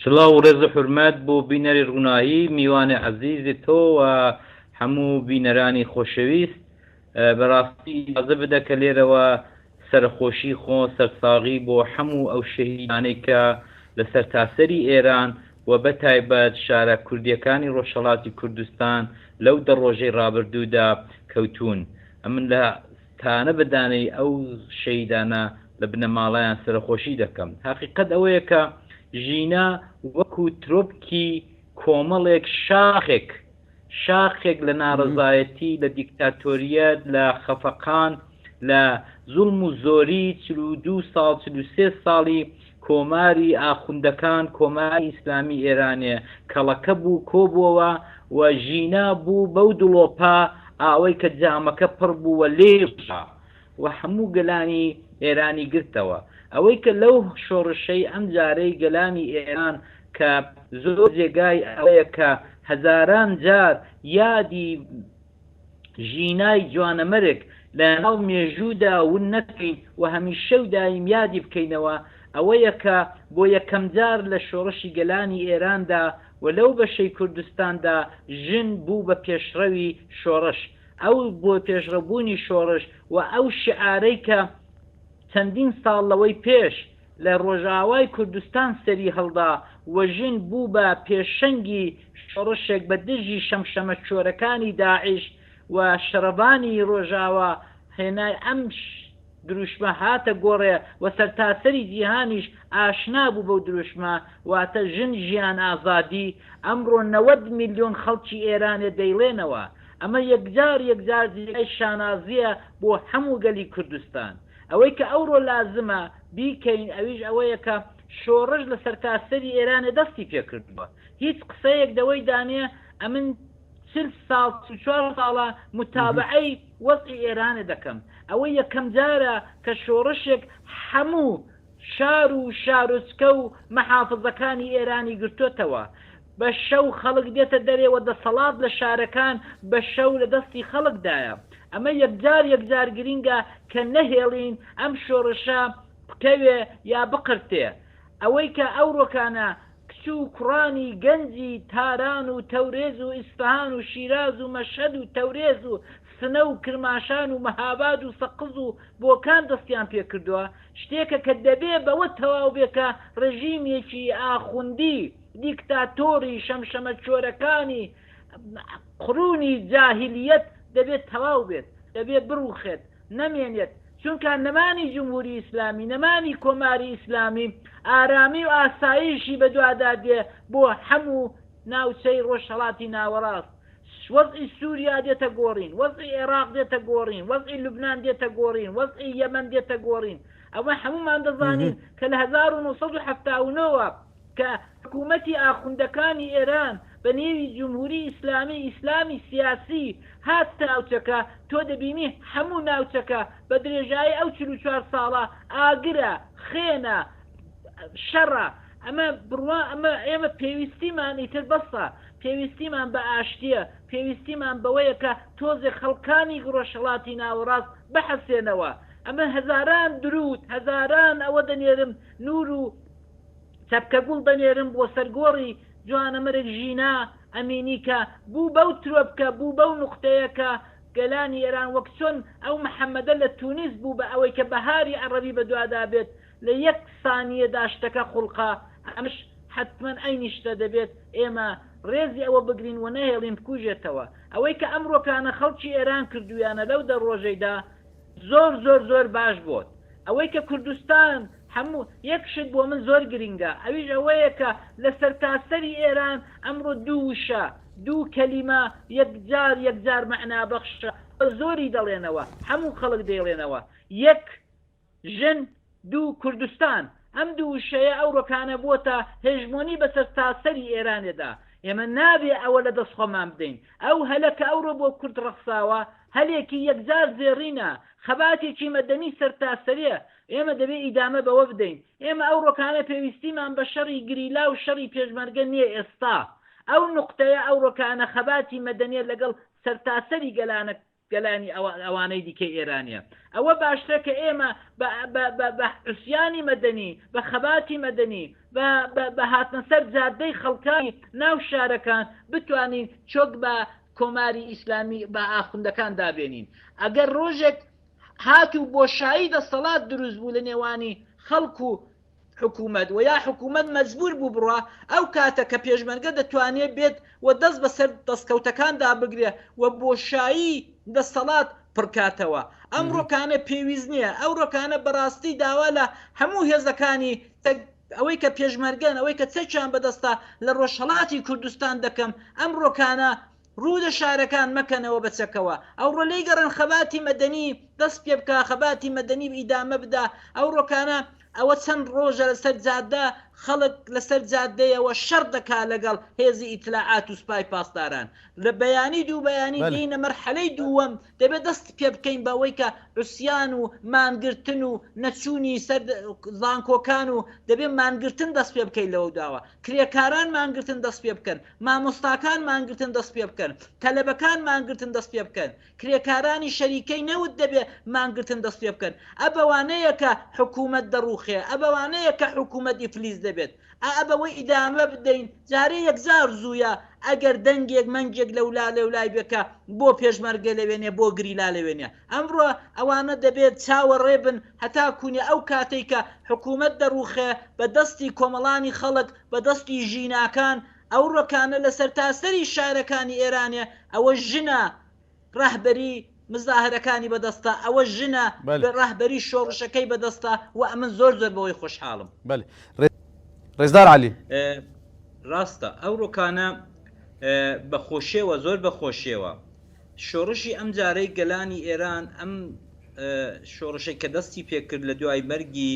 سڵاو و ڕێز و حورمەت بۆ بینەری ڕوونایی، میوانی عەزیزی تۆ و هەموو بینەرانی خۆشەویست. بە ڕاستی ئیجازە بدە کە لێرەوە سەرەخۆشی خۆ سەرساغی بۆ حەموو ئەو شەهیدانەی کە لە سەرتاسەری ئێران و بە تایبەت شارە کوردییەکانی ڕۆژهەڵاتی کوردستان لەو دە ڕۆژەی ڕابردوودا کەوتوون. ئەمن لە تانە بە دانەی ئەو شەهیدانە لە بنەماڵەیان سەرەخۆشی دەکەم. هەقیقەت ئەوەیە کە ژینا وەکو ترۆپکی کۆمەڵێک شاخێک، شاخێک لە ناڕەزایەتی، لە دیکتاتۆرییەت، لە خەفەقان، لە زوڵم و زۆریی چل و دوو ساڵ، چل و سێ ساڵی کۆماری ئاخوندەکان کۆماری ئیسلامی ئێرانێ کەڵەکە بوو کۆبووەوە و ژینا بوو بەو دڵۆپە ئاوەی کە جامەکە پڕ بوو و لێ ڕژا و هەموو گەلانی ئێرانی گرتەوە ئەوەی کە لەو شۆڕشەی ئەم جارەی گەلانی ئێران کە زۆر جێگای ئەوەیە کە هەزاران جار یادی ژینای جوانەمەرگ لەناو مێژوودا ون نەکەین و هەمیشە و دایم یادی بکەینەوە، ئەوەیە کە بۆ یەکەمجار لە شۆڕشی گەلانی ئێراندا و لەو بەشەی کوردستاندا ژن بوو بە پێشڕەوی شۆڕش. ئەو بۆ پێشڕەوبوونی شۆڕش و ئەو شیعارەی کە چەندین ساڵ لەوەی پێش، لە ڕۆژئاوای کوردستان سەری هەڵدا و ژن بوو بە پێشەنگی شۆڕشێک بە دژی شەمشەمەکۆرەکانی داعش و شەڕڤانی ڕۆژئاوا هێنای ئەم دروشمە هاتە گۆڕێ و سەرتاسەری جیهانیش ئاشنا بوو بەو دروشمە واتە ژن ژیان ئازادی ئەمڕۆ نەوەد ملیۆن خەڵکی ئێرانێ دەیڵێنەوە ئەمە یەکجار یەکجار جێگای شانازیە بۆ هەموو گەلی کوردستان ئەوەی کە ئەوڕۆ لازمە بیکەین ئەویش ئەوەیە کە شۆڕش لە سەرتاسەری ئێرانێ دەستی پێ کردووە. هیچ قسەیەک دەوەی دانێ ئەمن چل ساڵ چل و چوار ساڵە موتابەعەی وەزعی ئێرانێ دەکەم. ئەوە یەکەم جارە کە شۆڕشێک حەموو شار و شارۆچکە و مەحافزەکانی ئێرانی گرتۆتەوە. بە شەو خەڵک دێتە دەرێ و دەسەڵات لە شارەکان بە شەو لە دەستی خەڵکدایە. ئەمە یەکجار یەکجار گرینگە کە نەهێڵین ئەم شۆڕشە بکەوێ یا بقرتێ. ئەوەی کە ئەوڕۆکانە کچ و کوڕانی گەنجی تاران و تەورێز و ئیسفەهان و شیراز و مەشهەد و تەورێز و سنە و کرماشان و مهاباد و سەقز و بۆکان دەستیان پێ کردوە شتێکە کە دەبێ بەوە تەواو بێ کە ڕێژیمێکی ئاخوندی دیکتاتۆری شەمشەمەکۆرەکانی قرونی جاهیلیەت دەبێت تەواو بێت، دەبێت بڕوخێت، نەمێنێت، چونکا نەمانی جمهوری ئیسلامی، نەمانی کۆماری ئیسلامی ئارامی و ئاسایشی بەدوادا دێ بۆ حەمو ناوچەی ڕۆژهەڵاتی ناوەڕاست، وەزعی سوریا دێتە گۆڕین، وەزعی ئێراق دێتە گۆڕین، وەزعی لوبنان دێتە گۆڕین، وەزعی یەمەن دێتە گۆڕین، ئەمە حەمومان دەزانین کە لە هەزار و نۆ سەد و حەفتا و نۆ وە کە حکوومەتی ئاخوندەکانی ئێران بە نێوی جمهوری ئیسلامی ئیسلامی سیاسی هاتتە ناوچەکە، تۆ دەبینی هەموو ناوچەکە بە درێژایی ئەو چل و چوار ساڵە ئاگرە، خێنە، شەڕە، ئەمە بڕوا ئەمە ئێمە پێویستیمان ئیتر بەسە، پێویستیمان بە ئاشتییە، پێویستیمان بەوەیە کە تۆزێ خەڵکانی ڕۆژهەڵاتی ناوەڕاست بحەسێنەوە، ئەمە هەزاران دروود، هەزاران ئەوە دەنێرم نوور و. چەپکە گوڵ دەنێرم بۆ سەر گۆڕی جوانەمەرگ ژینا ئەمینی کە بوو بەو ترۆپکە بوو بەو نوقتەیە کە گەلانی ئێران وەک چۆن ئەو محەمەدە لە تونس بوو بە ئەوەی کە بەهاری عەڕەبی بە دوادا بێت لە یەک سانیەدا شتەکە خوڵقا ئەمەش حەتمەن عەینی شتە دەبێت ئێمە ڕێزی ئەوە بگرین و نەهێڵین بکوژێتەوە ئەوەی کە ئەمڕۆکانە خەڵکی ئێران کردوویانە لەو دە ڕۆژەیدا زۆر زۆر زۆر باش بۆت ئەوەی کە کوردستان هەموو یەک شت بۆ من زۆر گرینگە ئەویش ئەوەیە کە لە سەرتاسەری ئێران ئەمڕۆ دوو وشە دوو کەلیمە یەکجار یەکجار مەعنابەخشە بە زۆری دەڵێنەوە هەموو خەڵک دەیڵێنەوە یەک ژن دوو کوردستان، ئەم دوو وشەیە ئەو رۆکانە بووەتە هێژمۆنی بە سەرتاسەری ئێرانێدا، ئێمە نابێ ئەوە لە دەست خۆمان بدەین، ئەو هەلە کە ئەوڕۆ بۆ کورد رەخساوە، هەلێکی یەکجار زێڕینە، خەباتێکی مەدەنی سەرتاسەریە، ئێمە دەبێ ئیدامە بەوە بدەین، ئێمە ئەو رۆکانە پێویستیمان بە شەڕی گریلا و شەڕی پێشمەرگە نیە ئێستا، ئەو نوقتەیە ئەو رۆکانە خەباتی مەدەنیە لەگەڵ سەرتاسەری گەلانە گەلانی ئەوە ئەوانەی دیکەی ئێرانیە ئەوە باشترە کە ئێمە بە بە بە بە عوسیانی مەدەنی بە خەباتی مەدەنی بە بە بە هاتنە سەر جادەی خەڵکانی ناو شارەکان بتوانین چۆک بە کۆماری ئیسلامی بە ئاخوندەکان دابێنین ئەگەر ڕۆژێک هاتوو بۆشایی دەسەڵات دروست بوو لە نێوانی خەڵک و حکومەت وە یا حکومەت مەجبور بوو بڕا ئەو کاتە کە پێشمەرگە دەتوانێ بێت و دەست بە سەر دەستکەوتەکاندا بگرێ و بۆشایی دەستەڵات پڕکاتەوە ئەم ڕۆکانە پێویست نییە ئەو ڕۆکانە بەڕاستی داوا لە هەموو هێزەکانی ئەوەی کە پێشمەرگەن ئەوەی کە چەکیان بەدەستە لە ڕۆژهەڵاتی کوردستان دەکەم ئەم ڕۆکانە ڕوو لە شارەکان مەکەنەوە بە چەکەوە، ئەوڕۆ لێی گەڕێن خەباتی مەدەنی دەست پێ بکا، خەباتی مەدەنی ئیدامە بدا، ئەوڕۆکانە ئەوە چەند ڕۆژە لە سەر جادە خەڵک لە سەر جادەیەوە شەڕ دەکا لەگەڵ هێزی ئیتلاعات و سپای پاسداران لە بەیانی دوو بەیانی دێینە مەرحەلەی دووەم دەبێ دەست پێ بکەین بەوەی کە عوسیان و مانگرتن و نەچوونی سەر زانکۆکان و دەبێ مانگرتن دەست پێ بکەین لەوە داوە کرێکاران مانگرتن دەست پێ بکەن مامۆستاکان مانگرتن دەست پێ بکەن، تەلەبەکان مانگرتن دەست پێ بکەن، کرێکارانی شەریکەی نەوت دەبێ مانگرتن دەست پێ بکەن، ئە بەوانەیە کە حکوومەت دەڕووخێ، ئە بەوانەیە کە حکوومەت ئیفلیس دەبێت، ئا ئە بەوە ئیدامە بدەین، جارێ یەکجار زوویە، ئەگەر دەنگێک مەنگێک لەولا لەولای بێ کە بۆ پێشمەرگە لەوێنێ بۆ گریلا لەوێنێ، ئەمڕۆ ئەوانە دەبێت چاوەڕێ بن هەتا کوونێ ئەو کاتەی کە حکوومەت دەڕووخێ بە دەستی کۆمەڵانی خەڵک، بە دەستی ژیناکان ئەو ڕۆکانە لە سەرتاسەری شارەکانی ئێرانێ ئەوە ژنە ڕەهبەری مزاهرەکانی بە دەستە ئەوە ژنە بەلێ ڕەهبەری شۆڕشەکەی بە دەستە و ئەمن زۆر زۆر بەوەی خۆشحاڵم. بەلێ ڕێزدار عەلی. ڕاستە ئەو ڕۆکانە بە خۆشێوە زۆر بە خۆشێوە شۆڕشی ئەم جارەی گەلانی ئێران ئەم شۆڕشەی کە دەستی پێ کرد لە دوای مەرگی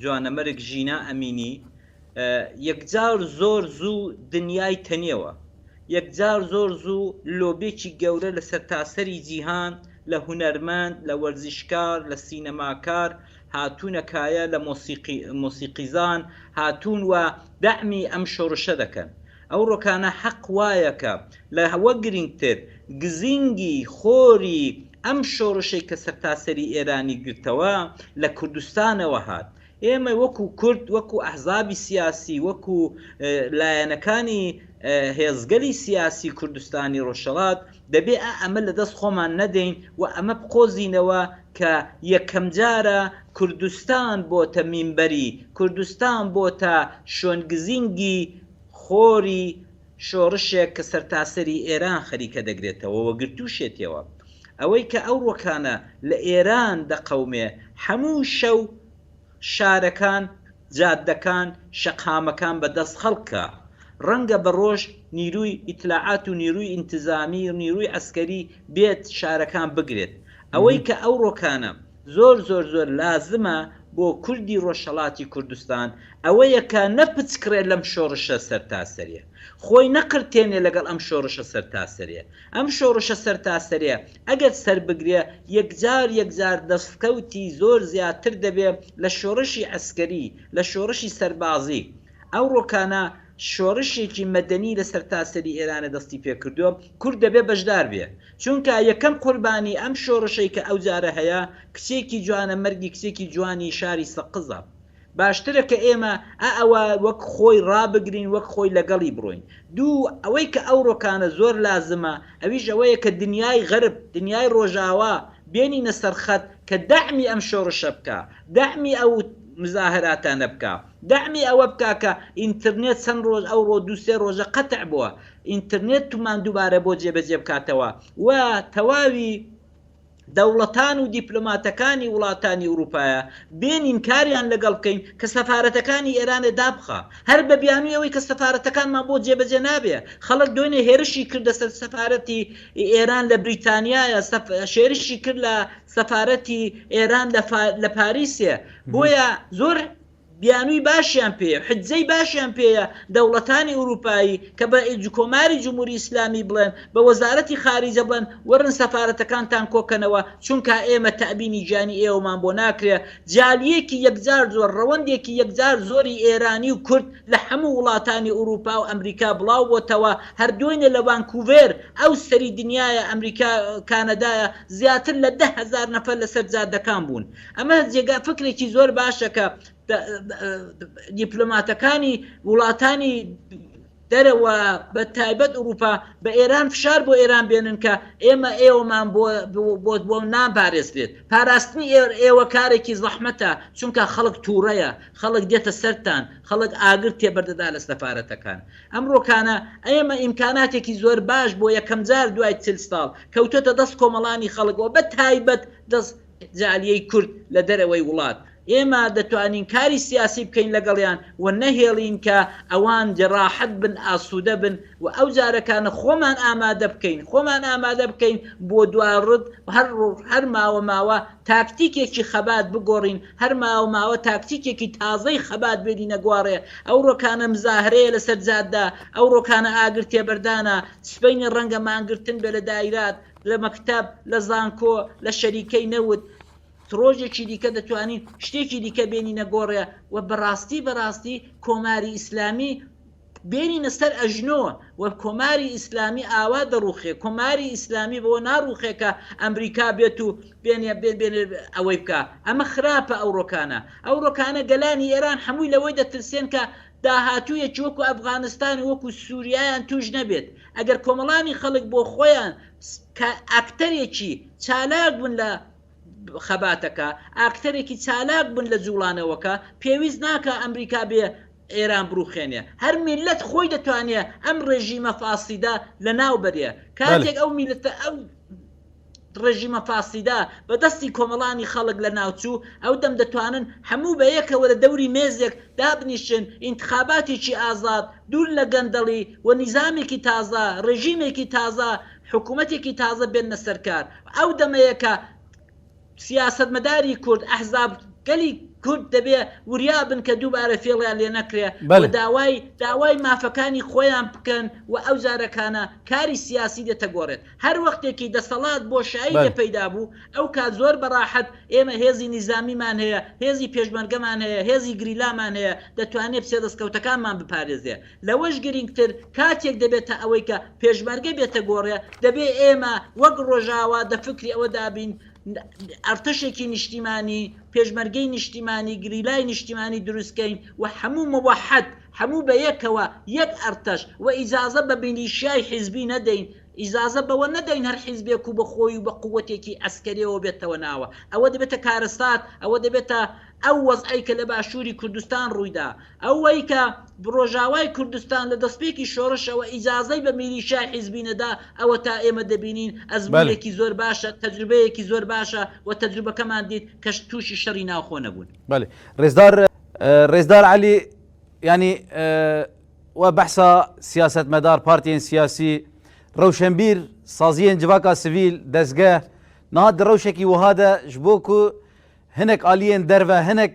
جوانەمەرگ ژینا ئەمینی یەکجار زۆر زوو دنیای تەنیەوە، یەکجار زۆر زوو لۆبێکی گەورە لە سەرتاسەری جیهان لە هونەرمەند، لە وەرزشکار، لە سینەماکار هاتوونە کایە، لە مۆسیقیزان هاتوون و دەعمی ئەم شۆڕشە دەکەن. ئەو ڕۆکانە حەق وایە کە لە وە گرینگتر گزینگی خۆری ئەم شۆڕشەی کە سەرتاسەری ئێرانی گرتەوە لە کوردستانەوە هات، ئێمە وەکو کورد، وەکو ئەحزابی سیاسی، وەکو لایەنەکانی هێزگەلی سیاسی کوردستانی ڕۆژهەڵات دەبێ ئەمە لە دەست خۆمان نەدەین و ئەمە بقۆزینەوە کە یەکەم جارە کوردستان بۆتە مینبەری، کوردستان بۆتە شوێنگزینگی خۆری شۆڕشێک کە سەرتاسەری ئێران خەریکە دەگرێتەوە و گرتووشێتیەوە. ئەوەی کە ئەو ڕووەکانە لە ئێران دەقەومێ، هەموو شەو شارەکان، جاددەکان، شەقامەکان بە دەست خەڵکە. ڕەنگە بە ڕۆژ نیرووی ئیتلاعات و نیرووی ئینتزامی، نیرووی عەسکەری بێت شارەکان بگرێت. ئەوەی کە ئەو ڕۆکانە زۆر زۆر زۆر لازمە بۆ کوردی ڕۆژهەڵاتی کوردستان ئەوەیە کە نەپچکڕێ لەم شۆڕشە سەرتاسەریە خۆی نەقرتێنێ لەگەڵ ئەم شۆڕشە سەرتاسەریە ئەم شۆڕشە سەرتاسەریە ئەگەر سەربگرێ یەکجار یەکجار دەستکەوتی زۆر زیاتر دەبێ لە شۆڕشی عەسکەری لە شۆڕشی سەربازی ئەوڕۆ کانە شۆڕشێکی مەدەنی لە سەرتاسەری ئێرانە دەستی پێکردوە کورد دەبێ بەشدار بێ چونکا یەکەم قوربانی ئەم شۆڕشەی کە ئەو جارە هەیە کچێکی جوانە مەرگی کچێکی جوانی شاری سەقزە باشترە کە ئێمە ئە ئەوە وەک خۆی ڕابگرین وەک خۆی لەگەڵی بڕۆین دوو ئەوەی کە ئەوڕۆکانە زۆر لازمە ئەویش ئەوەیە کە دنیای غەرب دنیای ڕۆژاوا بێنینە سەر خەت کە دەعمی ئەم شۆڕشە بکا دەعمی ئەو مزاهراتانە بکا دەعمی ئەوە بکا کە ئینترنێت چەند ڕۆژ ئەوڕۆ دوو سێ ڕۆژە قەتع بووە ئینترنێتمان دووبارە بۆ جێبەجێ بکاتەوە و تەواوی دەوڵەتان و دیپلۆماتەکانی وڵاتانی ئورووپایە بێنین کاریان لەگەڵ بکەین کە سەفارەتەکانی ئێرانێ دابخا هەر بە بیانوی ئەوەی کە سەفارەتەکانمان بۆ جێبەجێ نابێ خەڵک دوێنێ هێرشی کردە سەر سەفارەتی ئێران لە بریتانیایە سەف... شێرشی کرد لە سەفارەتی ئێران لە, فا... لە پاریسێ بۆیە زۆر بیانووی باشیان پێیە و حجزەی باشیان پێیە دەوڵەتانی ئورووپایی کە بە ئیج کۆماری جمهوری ئیسلامی بڵێن، بە وەزارەتی خارجە بڵێن وەرن سەفارەتەکانتان کۆ کەنەوە چونکا ئێمە تەئبینی گیانی ئێوەمان بۆ ناکرێ جالیەکی یەکجار زۆر، ڕەوەندێکی یەکجار زۆری ئێرانی و کورد لە حەموو وڵاتانی ئورووپا و ئەمریکا بڵاو بۆتەوە هەر دوێنێ لە وانکووڤێر ئەو سەری دنیایە ئەمریکا کانەدایە زیاتر لە دە هەزار نەفەر لە سەر جادەکان بوون. ئەمە جێگا فکرێکی زۆر باشە کە دیپلۆماتەکانی وڵاتانی دەرەوە بە تایبەت ئوروپا بە ئێران فشار بۆ ئێران بێنن کە ئێمە ئێوەمان بۆت بۆ نابارێزرێت پاراستنی ئێوە کارێکی زەحمەتە چونکە خەڵک تووڕەیە خەڵک دێتە سەران خەڵک ئاگر تێبەردەدا لە سەفاەتەکان ئەمڕۆکانە ئێمە ئیمکاناتێکی زۆر باش بۆ یەکەم جار دوای چل ساڵ کەوتۆتە دەست کۆمەڵانی خەڵکەوە بە تایبەت دەست جالیەی کورد لە دەرەوەی وڵات، ئێمە دەتوانین کاری سیاسی بکەین لەگەڵیان و نەهێڵین کە ئەوان جەراحەت بن، ئاسوودە بن و ئەو جارەکانە خۆمان ئامادە بکەین، خۆمان ئامادە بکەین بۆ دوا رد، هەر روژ، هەر ماوە ماوە تاکتیکێکی خەبات بگۆرین، هەر ماوە ماوە تاکتیکێکی تازەی خەبات بێنینە گۆارێ، ئەو رۆکانە مزاهرەیە لەسەر جادە، ئەو رۆکانە ئاگر تێبەردانە، سبەینێ رەنگە مانگرتن بێ لە دایرات، لە مەکتەب، لە زانکۆ، لە شەریکەی نەوت، ڕۆژێکی دیکە دەتوانین شتێکی دیکە بێنینە گۆڕێ و بەڕاستی بەڕاستی کۆماری ئیسلامی بێنینە سەر ئەژنۆ و کۆماری ئیسلامی ئاوا دەڕوخێ کۆماری ئیسلامی بەوە ناڕوخێ کە ئەمریکا بێت و بێنێ بێن بێن ئەوەی بکە ئەمە خراپە ئەو ڕۆکانە ئەو ڕۆکانە گەلانی ئێران هەمووی لەوەی دەترسێن کە داهاتوویەکی وەکو ئەفغانستان و وەکو سوریایان تووش نەبێت، ئەگەر کۆمەڵانی خەڵک بۆ خۆیان کە ئاکتەرێکی چالاک بوون لە خەباتەکە، ئاکتەرێکی چالاک بوون لە جووڵانەوەکە، پێویست ناکا ئەمریکا بێ ئێران بڕووخێنێ، هەر میللەت خۆی دەتوانێ ئەم ڕێژیمە فاسیدە لەناو بەرێ، کاتێک ئەو میللەتە ئەو. ڕژیمە فاسیدە بە دەستی کۆمەڵانی خەڵک لە ناوچوو ئەو دەم دەتوانن هەموو بە یەکەوە لە دەوری مێزێک دابنیشن ئینتخاباتێکی ئازاد دوور لە گەندەڵی و نیزامێکی تازە ڕژیمێکی تازە حکوومەتێکی تازە بێننە سەرکار ئەو دەمەیە کە سیاسەتمەداری کورد، ئەحزاب، گەلی کورد دەبێ وریا بن کە دووبارە فێڵیان لێ نەکرێ و داوای داوای مافەکانی خۆیان بکەن و ئەو جارەکانە کاری سیاسی دێتە گۆڕێت. هەر وەختێکی دەسەڵات بۆشایی لێ پەیدا بوو، ئەو کات زۆر بە ڕاحەت ئێمە هێزی نیزامیمان هەیە، هێزی پێشمەرگەمان هەیە، هێزی گریلامان هەیە، دەتوانێ بچێ دەستکەوتەکانمان بپارێزێ. لەوەش گرینگتر کاتێک دەبێتە ئەوەی کە پێشمەرگە بێتە گۆڕێ، دەبێ ئێمە وەک ڕۆژاوا دە فکری ئەوە دابین ئەرتەشێکی نیشتیمانی، پێشمەرگەی نیشتیمانی، گریلای نیشتیمانی دروست کەین و هەموو موەحەد، هەموو بە یەکەوە یەک ئەرتەش و ئیجازە بە میلیشیای حیزبی نەدەین، ئیجازە بەوە نەدەین هەر حیزبێک و بە خۆی و بە قووەتێکی عەسکەرییەوە بێتەوە ناوە. ئەوە دەبێتە کارەسات، ئەوە دەبێتە ئەو وەزعەی کە لە باشووری کوردستان ڕووی دا. ئەوەی کە ڕۆژاوای کوردستان لە دەستپێکی شۆڕشەوە ئیجازەی بە میلیشیای حیزبی نەدا، ئەوەتا ئێمە دەبینین ئەزموونێکی زۆر باشە، تەجروبەیەکی زۆر باشە و تەجروبەکەمان دیت کە تووشی شەڕی ناوخۆ نەبوون. بەلی ڕێزدار ڕێزدار عەلی یانی وە بەحسا سیاسەتمەدار پارتیێن سیاسی ڕەوشەنبیر سازیێن جڤاکا سڤیل دەستگە نادە ڕەوشێکی وهادە ژبۆک و هەنێک ئالیێن دەرە هەنێک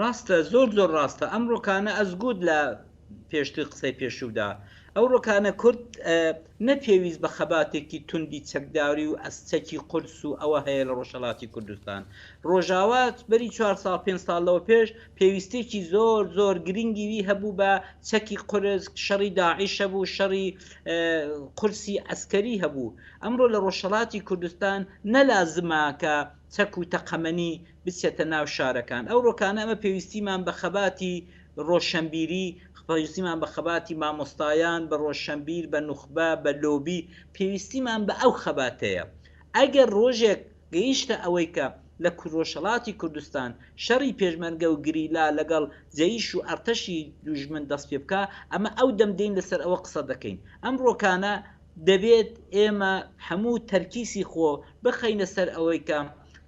ڕاستە زۆر زۆر ڕاستە ئەم ڕۆکانە ئەز گووت لە پێشتر قسەی پێشوودا ئەو ڕۆکانە کورد نە پێویست بە خەباتێکی توندی چەکداری و ئەس چەکی قورس و ئەوە هەیە لە ڕۆژهەڵاتی کوردستان ڕۆژاوا بەری چوار ساڵ پێنج ساڵ لەوە پێش پێویستێکی زۆر زۆر گرنگی وی هەبوو بە چەکی قورس شەڕی داعیش هەبوو شەڕی قورسی ئەسکەری هەبوو ئەمڕۆ لە ڕۆژهەڵاتی کوردستان نەلازمە کە چەک و تەقەمەنی بچێتە ناو شارەکان ئەو ڕۆکانە ئەمە پێویستیمان بە خەباتی ڕۆشەنبیری پێویستیمان بە خەباتی مامۆستایان بە ڕۆشەنبیر بە نوخبە بە لۆبی پێویستیمان بە ئەو خەباتەیە ئەگەر ڕۆژێک گەیشتە ئەوەی کە لە ڕۆژهەڵاتی کوردستان شەڕی پێشمەرگە و گریلا لەگەڵ جەیش و ئەڕتەشی دوژمن دەست پێ بکا ئەمە ئەو دەم دێین لەسەر ئەوە قسە دەکەین ئەم ڕۆکانە دەبێت ئێمە هەموو تەرکیسی خۆ بخەینە سەر ئەوەی کە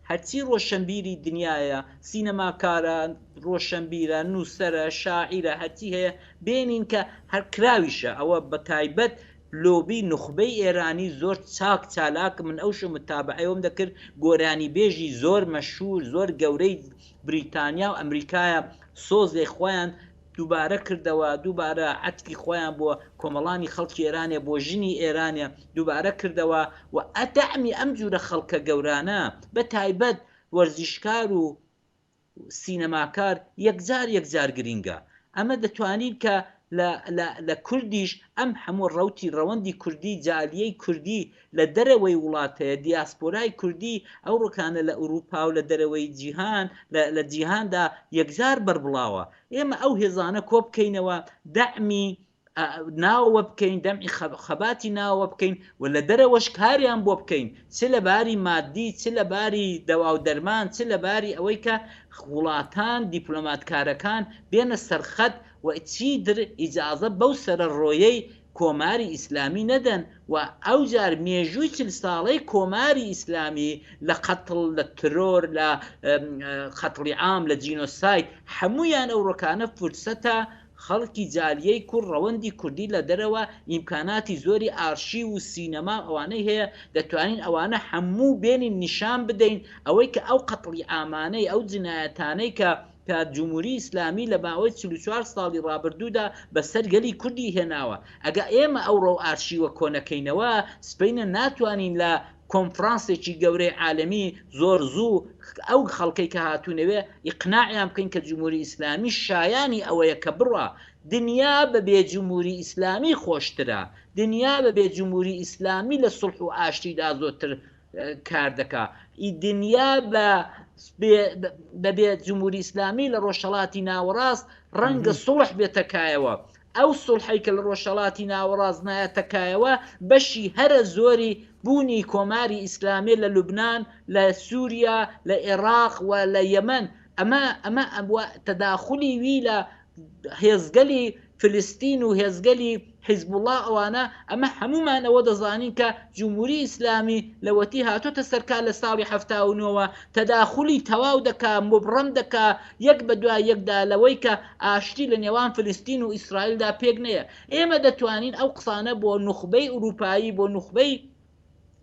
هەرچی ڕۆشەنبیری دنیایە، سینەماکارە، ڕۆشەنبیرە، نووسەرە، شاعیرە، هەرچی هەیە بێنین کە هەر کراویشە، ئەوە بە تایبەت لۆبی نوخبەی ئێرانی زۆر چاک چالاک من ئەوشۆ متابەعەیەوەم دەکرد گۆرانیبێژی زۆر مەشهوور زۆر گەورەی بریتانیا و ئەمریکایە سۆزێ خۆیان دووبارە کردەوە دووبارە عەتفی خۆیان بۆ کۆمەڵانی خەڵکی ئێرانێ بۆ ژنی ئێرانێ دووبارە کردەوە و ئە دەعمی ئەم جورە خەڵکە گەورانە بە تایبەت وەرزشکار و سینەماکار یەکجار یەکجار گرینگە ئەمە دەتوانین کە لە لە لە کوردیش ئەم هەموو ڕەوتی ڕەوەندی کوردی جالیەی کوردی لە دەرەوەی وڵات هەیە، دیاسپۆرای کوردی ئەو ڕکانە لە ئورووپا و لە دەرەوەی جیهان، لە لە جیهاندا یەکجار بەربڵاوە. ئێمە ئەو هێزانە کۆ بکەینەوە، دەعمی ئا ناوەوە بکەین، دەعمی خە خەباتی ناوەوە بکەین و لە دەرەوەش کاریان بۆ بکەین، چ لە باری ماددی، چ لە باری دەوا و دەرمان، چ لە باری ئەوەی کە وڵاتان، دیپلۆماتکارەکان بێنە سەر خەت و چیتر ئیجازە بەو سەرەڕۆیەی کۆماری ئیسلامی نەدەن و ئەوجار مێژووی چل ساڵەی کۆماری ئیسلامی لە قەتڵ لە ترۆر لە قەتڵی عام لە جینۆساید حەموویان ئەو ڕۆکانە فرسەتە خەڵکی جالیەی کور ڕەوەندی کوردی لە دەرەوە ئیمکاناتی زۆری ئارشیو و سینەما و ئەوانەی هەیە دەتوانین ئەوانە حەموو بێنین نیشان بدەین ئەوەی کە ئەو قەتڵی عامانەی ئەو جنایەتانەی کە کە جمهوری ئیسلامی لە ماوەی چل و چوار ساڵی ڕابردوودا بە سەر گەلی کوردی هێناوە، ئەگە ئێمە ئەو ڕەو ئارشیوە کۆنەکەینەوە سبەینە ناتوانین لە کۆنفرانسێکی گەورەی عالەمی زۆر زوو ئەو خەڵکەی کە هاتوونەوێ ئیقناعیان بکەین کە جمهوری ئیسلامی شایانی ئەوەیە کە بڕا دنیا بە بێ جمهوری ئیسلامی خۆشترە، دنیا بە بێ جمهوری ئیسلامی لە سوڵح و ئاشتیدا زۆتر کار دەکا ئی دنیا بە بەبێ جمهوری ئیسلامی لە ڕۆژهڵاتی ناوەڕاست ڕەنگە سڵح بێتەکایەوە ئەو سڵحی کە لە ڕۆژهڵاتی ناوەڕاست نایەتەکایەوە بەشی هەرە زۆری بوونی کۆماری ئیسلامی لە لوبناان لە سووریا لە عێراق و لە یەمەن ئەمە ئەمە ئەبووە تەداخلی وی لە هێزگەلی فلستین و هێزگەلی حیزبوڵا ئەوانە ئەمە هەموومان ئەوە دەزانین کە جمهوری ئیسلامی لەوەتی هاتۆتە سەرکار لە ساڵی هەفتا و نۆوە تەداخولی تەواو دەکا مبڕەم دەکا یەک بە دوای یەکدا لەوەی کە ئاشتی لە نێوان فلستین و ئیسرائیلدا پێک نەیە ئێمە دەتوانین ئەو قسانە بۆ نوخبەی ئورووپایی بۆ نوخبەی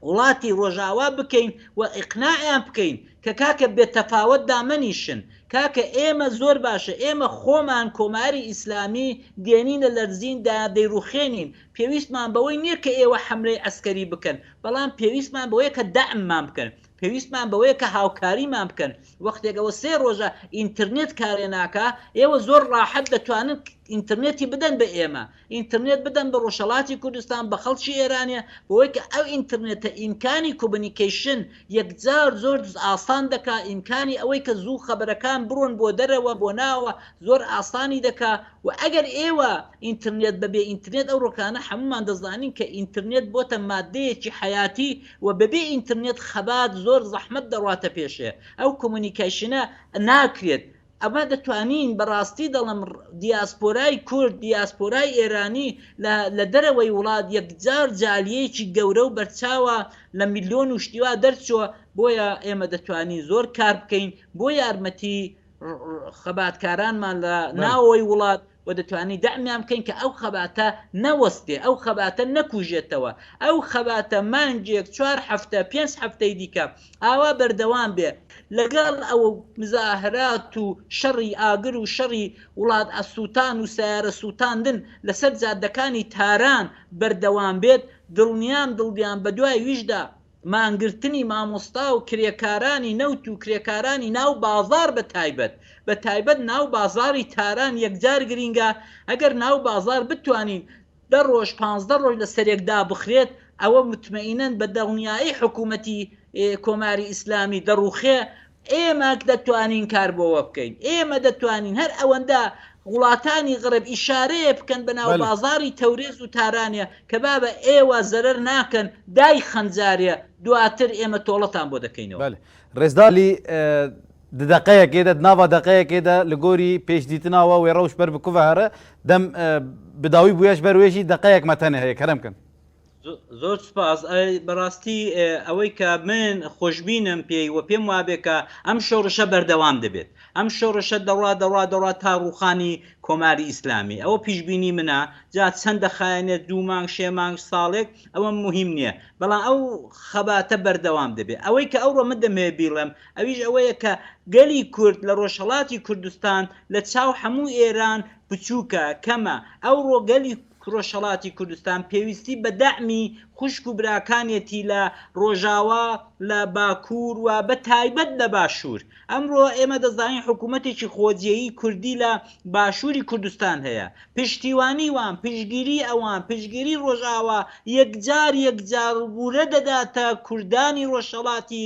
وڵاتی ڕۆژاوا بکەین و ئیقناعیان بکەین کە کاکە بێ تەفاوەت دامەنیشن کاکە ئێمە زۆر باشە ئێمە خۆمان کۆماری ئیسلامی دێنینە لەرزین دا دەیڕوخێنین پێویستمان بەوەی نیە کە ئێوە حەملەی عەسکەری بکەن بەڵام پێویستمان بەوەیە کە دەعممان بکەن پێویستمان بەوەیە کە هاوکاریمان بکەن وەختێک ئەوە سێ ڕۆژە ئینترنێت کارێ ناکا ئێوە زۆر ڕاحەت دەتوانن ئینترنێتی بدەن بە ئێمە ئینترنێت بدەن بە ڕۆژهەڵاتی کوردستان بە خەڵکی ئێرانێ بەوەی کە ئەو ئینترنێتە ئیمکانی کومنیکەیشن یەکجار زۆر ئاسان دەکا ئیمکانی ئەوەی کە زوو خەبەرەکان بڕۆن بۆ دەرەوە بۆ ناوە زۆر ئاسانی دەکا و ئەگەر ئێوە ئینترنێت بە بێ ئینترنێت ئەو ڕۆکانە حەموومان دەزانین کە ئینترنێت بۆتە مادەیەکی حەیاتی و بە بێ ئینترنێت خەبات زۆر زەحمەت دەڕاتە پێشێ ئەو کومنیکەیشنە ناکرێت ئەمە دەتوانین بەڕاستی دەڵێم دیاسپۆرای کورد، دیاسپۆرای ئێرانی لە لە دەرەوەی وڵات یەکجار جالیەیەکی گەورە و بەرچاوە لە ملیۆن و شتی وا دەرچووە بۆیە ئێمە دەتوانین زۆر کار بکەین بۆ یارمەتی خەباتکارانمان لە ناوەوەی وڵات. وە دەتوانین دەعمیان بکەین کە ئەو خەباتە نەوەستێ، ئەو خەباتە نەکوژێتەوە، ئەو خەباتە مانگێک، چوار هەفتە، پێنج هەفتەی دیکە ئاوا بەردەوام بێ، لەگەڵ ئەو مزاهرات و شەڕی ئاگر و شەڕی وڵات سووتان و سەیارە سووتاندن لەسەر جادەکانی تاران بەردەوام بێت، دڵنیام دڵ بیان بەدوای ویشدا مانگرتنی مامۆستا و کرێکارانی نەوت و کرێکارانی ناو بازاڕ بە تایبەت بە تایبەت ناو بازاڕی تاران یەکجار گرینگە، ئەگەر ناو بازاڕ بتوانین دە ڕۆژ پانزدە ڕۆژ لە سەرێک دابخرێت ئەوە متمەئینەن بە دڵنیایی حکوومەتی کۆماری ئیسلامی دەڕووخێ ئێمە دەتوانین کار بۆوە بکەین، ئێمە دەتوانین هەر ئەوەندە وڵاتانی غرب ئیشارەیە بکەن بە ناو بازاڕی تەورێز و تارانێ کە بابە ئێوە زەرەر ناکەن دای خەنجارێ دواتر ئێمە تۆڵەتان بۆ دەکەینەوە. رێزدار عەلی، د دەقەیەکێ دە، د ناڤا دەقەیەکێ دە، لە گۆری پێش دیتنا وە وێ رەوش بەر بکوڤە هەرە، دەم بداوی بویەش بەر وێژی دەقەیەک مەتەنێ هەیە، کەرەم کەن. زۆر سپاس بەڕاستی ئەوەی کە من خۆشببینم پێی وە پێم وابێ کە ئەم شۆڕشە بەردەوام دەبێت ئەم شۆڕشە دەڕا دەڕا دەڕا تا ڕوخانی کۆماری ئیسلامی ئەوە پیشببینی منە جا چەند دەخایەنێت دوو مانگ شێ مانگ ساڵێک ئەوە مهم نییە بەڵام ئەو خەباتە بەردەوام دەبێت ئەوەی کە ئەوڕۆ من دەمێ بیڵێم ئەویش ئەوەیە کە گەلی کورد لە ڕۆژهڵاتی کوردستان لە چاو هەموو ئێران بچووکە کەمە ئەوڕۆ گەلی ڕۆژهەڵاتی کوردستان پێویستی بە دەعمی خوشک و براکانێتی لە ڕۆژاوا، لە باکوور و بە تایبەت لە باشوور. ئەمڕۆ ئێمە دەزانین حکوومەتێکی خۆجێیی کوردی لە باشووری کوردستان هەیە. پشتیوانی وان، پشتگیری ئەوان، پشتگیری ڕۆژاوا یەکجار یەکجار ورە دەداتە کوردانی ڕۆژهەڵاتی